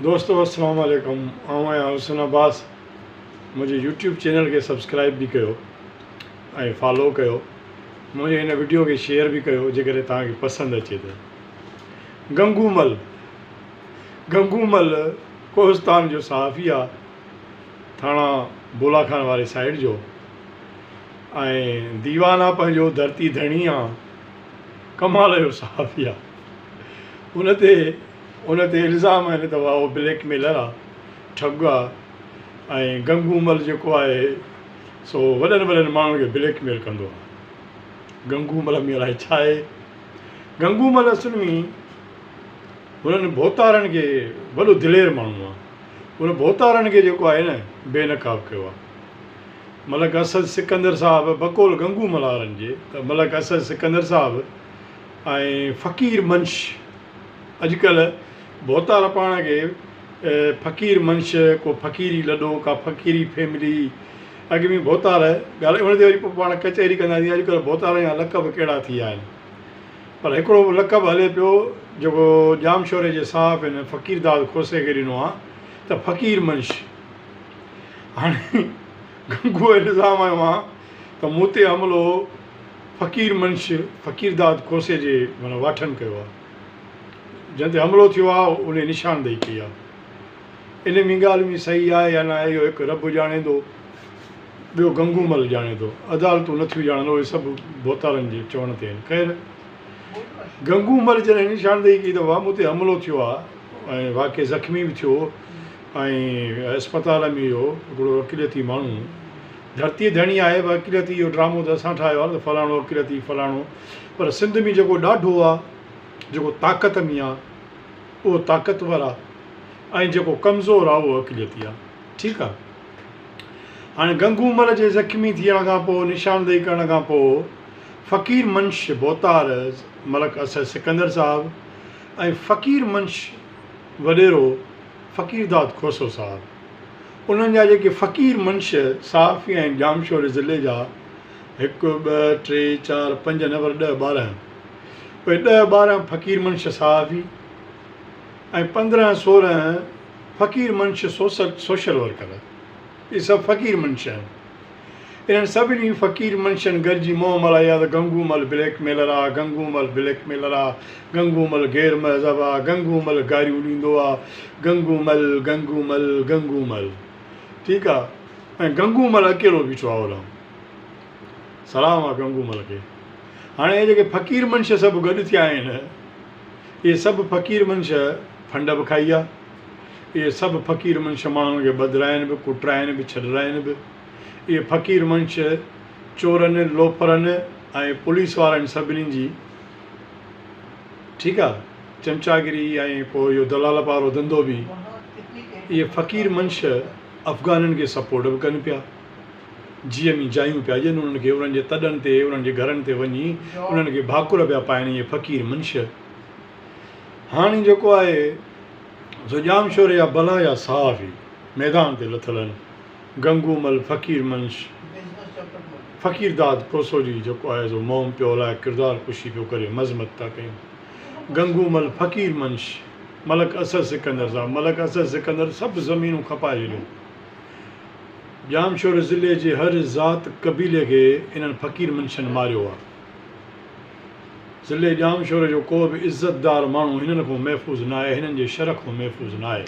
دوستو السلام عليڪم آئون آهيان حسن عباس منهنجي يوٽيوب چينل کي سبسڪرائب به ڪيو ۽ فالو ڪيو منهنجي هن وڊيو کي شيئر به ڪيو جيڪڏهن توهان کي پسند اچي ته گنگو مل گنگو مل ڪوهستان جو صحافي آ ٿاڻا بولا خان واري سائيڊ جو ۽ ديوان آ پنهنجو ڌرتي ڌڻي آ ڪمال جو صحافي آ ان تي ان تي الزام آهن ته اهو بليڪ ميلر آ، ٺڳ آ ۽ گنگو مل جيڪو آهي سو وڏن وڏن ماڻهن کي بليڪ ميل ڪندو آ. گنگو مل ۾ الائي ڇا آهي؟ گنگو مل اصل ۾ هنن ڀوتارن کي وڏو دلير ماڻهو آ. ان ڀوتارن کي جيڪو آهي نه بي نقاب ڪيو آ. ملڪ اسد سڪندر صاحب بقول گنگو ملهارن جي ته ملڪ اسد سڪندر صاحب ۽ فقير منش، اڄ ڪلهه ڀوتار پاڻ کي فقير منش، ڪو فقيري لڏو، ڪا فقيري فيملي، اڳ ۾ ڀوتار ڳالهائي ان تي وري پاڻ ڪچهري ڪندا جيئن اڄ ڪلهه ڀوتارن جا لقب ڪهڙا ٿي ويا آهن. پر هڪڙو لقب هلي پيو جيڪو ڄامشوري جي صحافين فقيرداد کوسي کي ڏنو آهي ته فقير منش. هاڻي گنگوء الزام هنيو آهي ته مون تي حملو فقير منش فقيرداد کوسي جي معنيٰ واٺن ڪيو آهي. جنهن تي حملو ٿيو آهي ان جي نشاندهي ڪئي آهي ان ۾ ڳالهه ۾ صحيح آهي يا نه آهي اهو هڪ رب ڄاڻي ٿو ٻيو گنگو مل ڄاڻي ٿو عدالتون نه ٿيون ڄاڻن اهي سڀ ڀوتارن جي چوڻ تي آهن خير گنگو مل جڏهن نشاندهي ڪئي ته وام تي حملو ٿيو آهي ۽ واقعي زخمي به ٿيو ۽ اسپتال ۾ اهو هڪڙو اقليتي ماڻهو ڌرتي ڌڻي آهي اقليتي اهو ڊرامو ته اسان ٺاهيو آهي نه فلاڻو اقليتي فلاڻو پر سنڌ ۾ جيڪو ڏاڍو آ، جيڪو طاقت ۾ آ، اهو طاقتور آ ۽ جيڪو ڪمزور آ، اهو اقليتي آ. ٺيڪ آ. هاڻي گنگو مل جي زخمي ٿيڻ کان پوء نشاندهي ڪرڻ کان پوء فقير منش بوتار، ملڪ اسد سڪندر صاحب ۽ فقير منش وڏيرو فقيرداد کوسو صاحب انهن جا جيڪي فقير منش صحافي ۽ ڄامشوري ضلعي جا، هڪ، ٻه، ٽي، چار، پنج نه پر ڏهه ٻارهن. اهي ڏهه ٻارهن فقير منش صحافي ۽ پندرهن سورهن فقير منش سوشل ورڪر. اهي سڀ فقير منش آهن. انهن سڀني فقير منشن گڏجي مون مل ايا ته گنگو مل بليڪ ميلر آ، گنگو مل بليڪ ميلر آ، گنگو مل غير مهذب آ، گنگو مل گاريون ڏيندو آ، گنگو مل، گنگو مل، گنگو مل. ٺيڪ آ. ۽ گنگو مل اڪيلو بيٺو آهو رام. سلام آ گنگو مل کي. هاڻي اهي جيڪي فقير منش سڀ گڏ ٿيا آهن، اهي سڀ فقير منش ڦنڊ به کائي آ، اهي سڀ فقير منش ماڻهن کي ٻڌرائين به، ڪٽرائين به، ڇڏرائين به. اهي فقير منش چورن، لوفرن ۽ پوليس وارن سڀني جي ٺيڪ آ چمچاگري ۽ پوء اهو دلالپ وارو ڌنڌو به اهي فقير منش، افغانن کي سپورٽ به ڪن پيا جي ايم جايون پيا ڏين انهن کي انهن جي تڏن تي انهن جي گهرن تي وڃي انهن کي ڀاڪر پيا پائن اهي فقير منشيات هاڻي جيڪو آهي سو ڄام شوري جا بلا جا صحافي ميدان تي لٿل آهن گنگو مل فقير منش فقير داد پوسوجي جيڪو آهي سو موم پيو هلائي ڪردار ڪشي پيو ڪري مذمت ٿا ڪيون گنگو مل فقير منش ملڪ اسد سڪندر صاحب ملڪ اسد سڪندر سڀ زمينون کپائي ڇڏيون. ڄامشوري ضلعي جي هر ذات قبيلي کي انهن فقير منشين ماريو آ. ضلعي ڄامشوري جو ڪو به عزت دار ماڻهو هنن کون محفوظ ناهي هنن جي شھر کون محفوظ ناهي.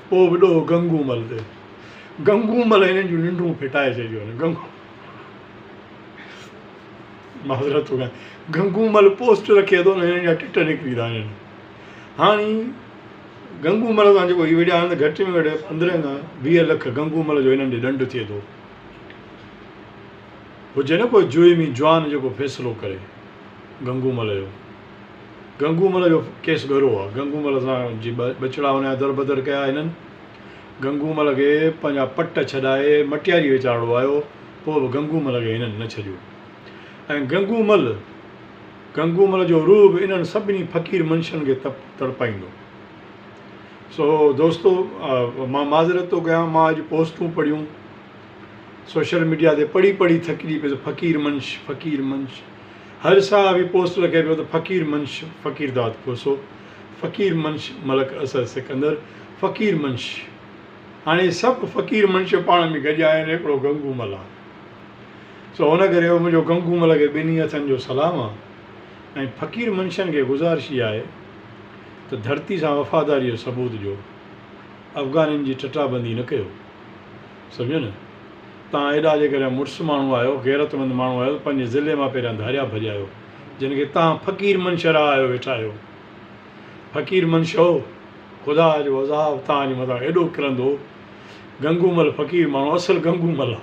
پوء به ڏوھ گنگو مل تي. گنگو مل هنن جون ننڊون ڦٽائي ڇڏيون آهن. گنگو معذرت ٿو گهران گنگو مل پوسٽ رکي ٿو نه هنن جا ٽٽ نڪري ٿا وڃن. هاڻي گنگو مل سان جيڪو هي وڙهيا آهن ته گهٽ ۾ گهٽ پندرهن کان ويهه لک گنگو مل جو هنن ڏي ڏنڊ ٿئي ٿو. هجي نه ڪو جويمي جوان جيڪو فيصلو ڪري گنگو مل جو. گنگو مل جو ڪيس ڳرو آهي. گنگو مل سان جي ٻچڙا ان جا دربدر ڪيا هنن. گنگو مل کي پنهنجا پٽ ڇڏائي مٽياري ويچارڙو آيو پوء به گنگو مل کي هنن نه ڇڏيو ۽ گنگو مل گنگومل جو روح به انهن سڀني فقير منشين کي تڙپائيندو. سو دوستو مان معذرت ٿو ڪيان مان اڄ پوسٽون پڙهيون سوشل ميڊيا تي پڙهي پڙهي ٿڪجي پيس فقير منش فقير منش هر صحافي پوسٽ لکي پيو ته فقير منش فقير داد کوسو فقير منش ملڪ اصغر سڪندر فقير منش هاڻي سڀ فقير منش پاڻ ۾ گڏيا آهن هڪڙو گنگومل آهي. سو ان ڪري او منهنجو گنگو مل کي ٻنهي هٿن جو سلام آ ۽ فقير منشين کي گذارشي آهي ته ڌرتي سان وفاداري جو ثبوت ڏيو افغانين جي ٽٽا بندي نه ڪيو سمجهيو نه تان ايڏا جيڪڏهن مڙس ماڻهو آهيو غيرت مند ماڻهو آهيو ته پنهنجي ضلعي مان پهريان ڌاريا ڀڄايو جن کي تان فقير منشه رهايو ويٺا آهيو فقير منشو خدا جو عذاب تان جي مٿان ايڏو ڪرندو گنگو مل فقير ماڻهو اصل گنگو مل آ.